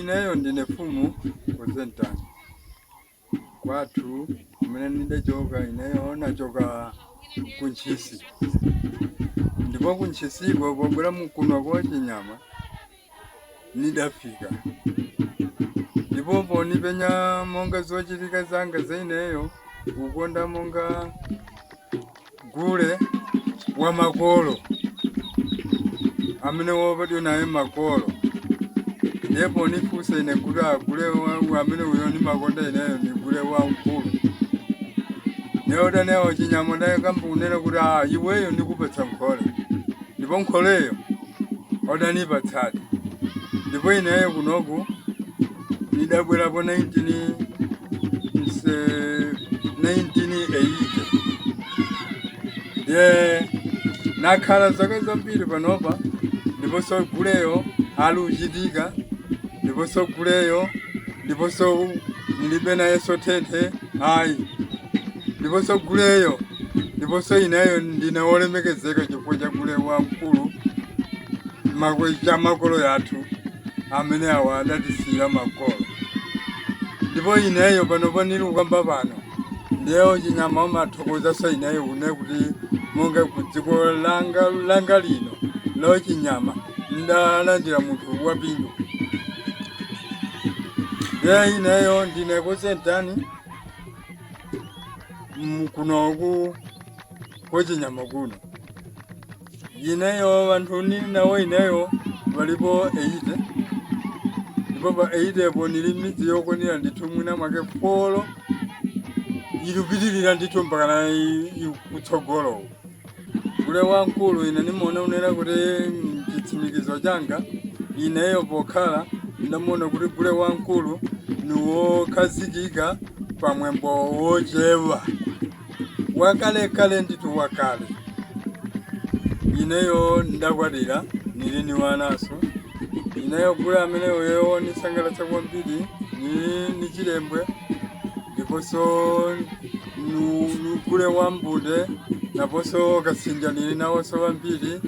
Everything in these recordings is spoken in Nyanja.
Ineyo ndine fumu Kozentani kwathu kumene ndidachoka ineyo nachoka ku Ntchisi ndipo ku Ntchisiko pobwera mkuno kwa Chinyama nidafika ndipo ponipenya monga zochitika zanga za ineyo ukonda monga gule wa makolo amene wobadwa naye makolo ndiye ponifunsa ine kuti agule wa- amene uyo ndimakonda ineyo ndi gule wamkulu ndiye odani- wo Chinyama ndakamba kunena kuti a iweyo ndikupatsa nkhole ndipo nkholeyo odanipatsadi ndipo ineyo kunoku nidabwerapo 19 nse- 1980 ndiye nakhala zaka zambiri panopa ndiponso guleyo ali uchitika ndiponso guleyo ndiponso ndilibe nayenso thenthe ayi ndiponso guleyo ndiponso ineyo ndine wolemekezeka chifukwa cha gule wamkulu makwe- cha makolo yathu amene awa adatisiyira makolo ndipo ineyo pano panili ukamba pano ndiye wo Chinyama omathokozanso ineyo une kuti monga ku dziko langa langa lino lo Chinyama ndalandira munthu waphindu ndiye ineyo ndine Kozentani mm, kunoku kwa Chinyama kuno ineyo wanthu nili nawo ineyo walipo 80 ndipo pa 80 po nili midzi yokwanira ndithu mwina mwake polo ikupitirira ndithu mpaka na i- i- kutsogolo Gule wamkulu ine nimaona unena kuti chitsimikizo changa ineyo pokhala ndamuona kuti gule wamkulu ni wokhazikika pa mwambo wochewa wakalekale ndithu wakale ineyo ndakwatira nili ni wanaso ineyo gule amene uyo wonisangalatsa kwambiri nili ni chilembwe ndiponso nu- ni gule wa mbude naponso kasinja nili nawonso wambiri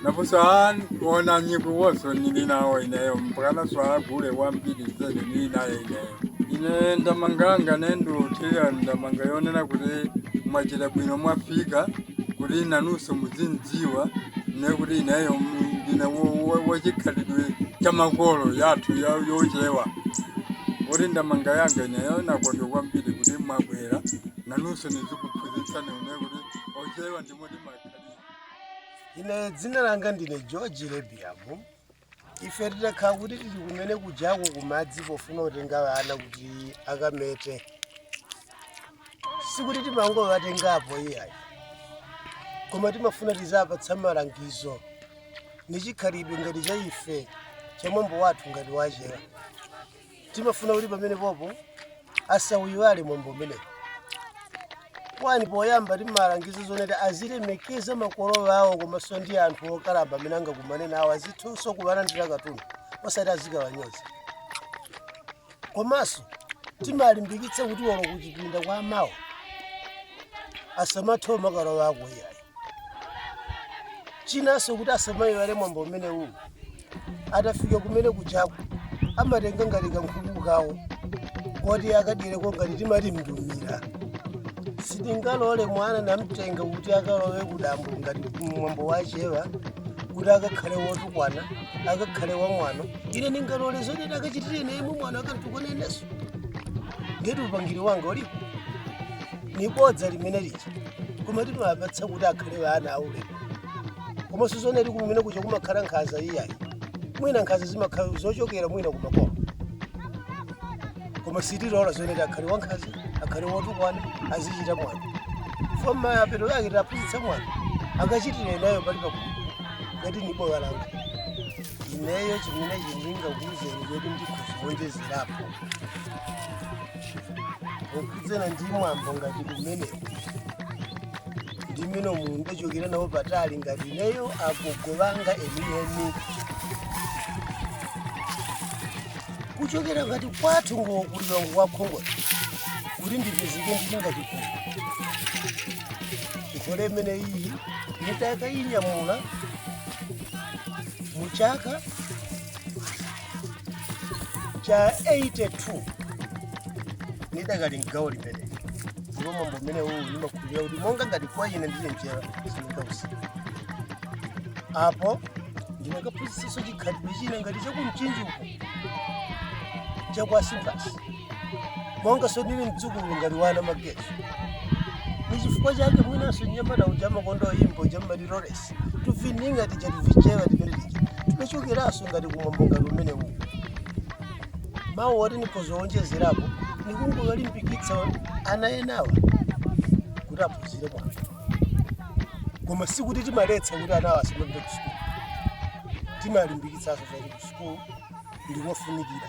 naponso a ona nyikuwonso nili nawo ineyo mpakanaso agule wambiri zedi nili naye ineyo ine ndamanga yanga ine ndiuthira ndamanga yonena kuti mwachita bwino mwafika kuti nanunso muzindidziwa ne kuti ineyo mu- ndine wo- wo- wachikhalidwe cha makolo yathu ya- yochewa kuti ndamanga yanga ineyo nakonda kwambiri kuti mwabwera nanunso nizikuphunzitsani ne kuti ochewa ndimo timakhalira ine dzina langa ndine George Lebiamu ife titakhala kuti tili kumene kujako kumudzi pofuna kutenga ana kuti akamete sikuti timangowatengapo iyayi koma timafuna tizapatsa malangizo ni chikhalidwe ngati cha ife cha mwambo wathu ngati wachewa timafuna kuti pamenepopo asauiwale mwambo umenewu kwani poyamba timalangiza zonena kuti azilemekeza makolo awo komanso ndi anthu okalamba amene angakumane nawo azithanso kuwalandira katundu osati azikawanyoza komanso timalimbikitsa kuti olo kuchipinda kwa amawo asamalowe makolo awo iyayi chinanso kuti asamayiwale mwambo umenewu atafika kumene kujaku amatenga ngati kankhuku kawo koti akadyereko ngati timati mndumira sitingalole mwana n'kumtenga kuti akalowe kudambo ngati mwambo wachewa kuti akakhale wotukwana akakhale wamwano ine ndingalole zoti ndikachitire ine mwana akantukwana ineso ndiye kuti upangiri wanga ulipo ni bodza limene lija koma timawapatsa kuti akhale ana aulemu koma sizonena kuti kumene kuja kumakhala nkhaza iyayi mwina nkhaza zimakhala zochokera mwina kumakomo koma sitilola zonena kuti akhale wankhaza akhale wotukwana azichita mwano pa mapeto yake taphunzitsa mwano akachitire nayo pali pakuti ngati ni boya langa ineyo chimene ndingakuuzeni choti ndikudziwonjezerapo okhudzana ndi mwambo ngati umenewu ndi mmene momwe ndachokera nawo patali ngati ineyo agogo anga enieni kuchokera ngati kwathu ngokulira ngwakhongola kuti ndipezeke ndingachikulu nkhola imene iyi nditaka inyamula mu chaka cha 82 ndidakali mgawo limeneli ndipo mwambo umene uwu ndimakhulupirira kuti monga ngati kwa ine ndili mchewa sindingausiye apo ndinakaphunzitsanso chikhalidwe china ngati chakumchinji uko chakwasimbasi mongaso ndili mdzukulu ngati wa anamageso nichifukwa chake mwinanso nyamata uja amakonda kuyimba jammati lores timining'a tija tachichewa timene tija tinachokeranso ngati kumwambo ngati umene uwu mawu oti nikhoza kuwonjezerapo nikungolimbikitsa ana enawa kuti aphunzire bwino koma sikuti timaletsa kuti anawa asamapite ku sukulu timalimbikitsanso zoti ku sukulu ndikofunikira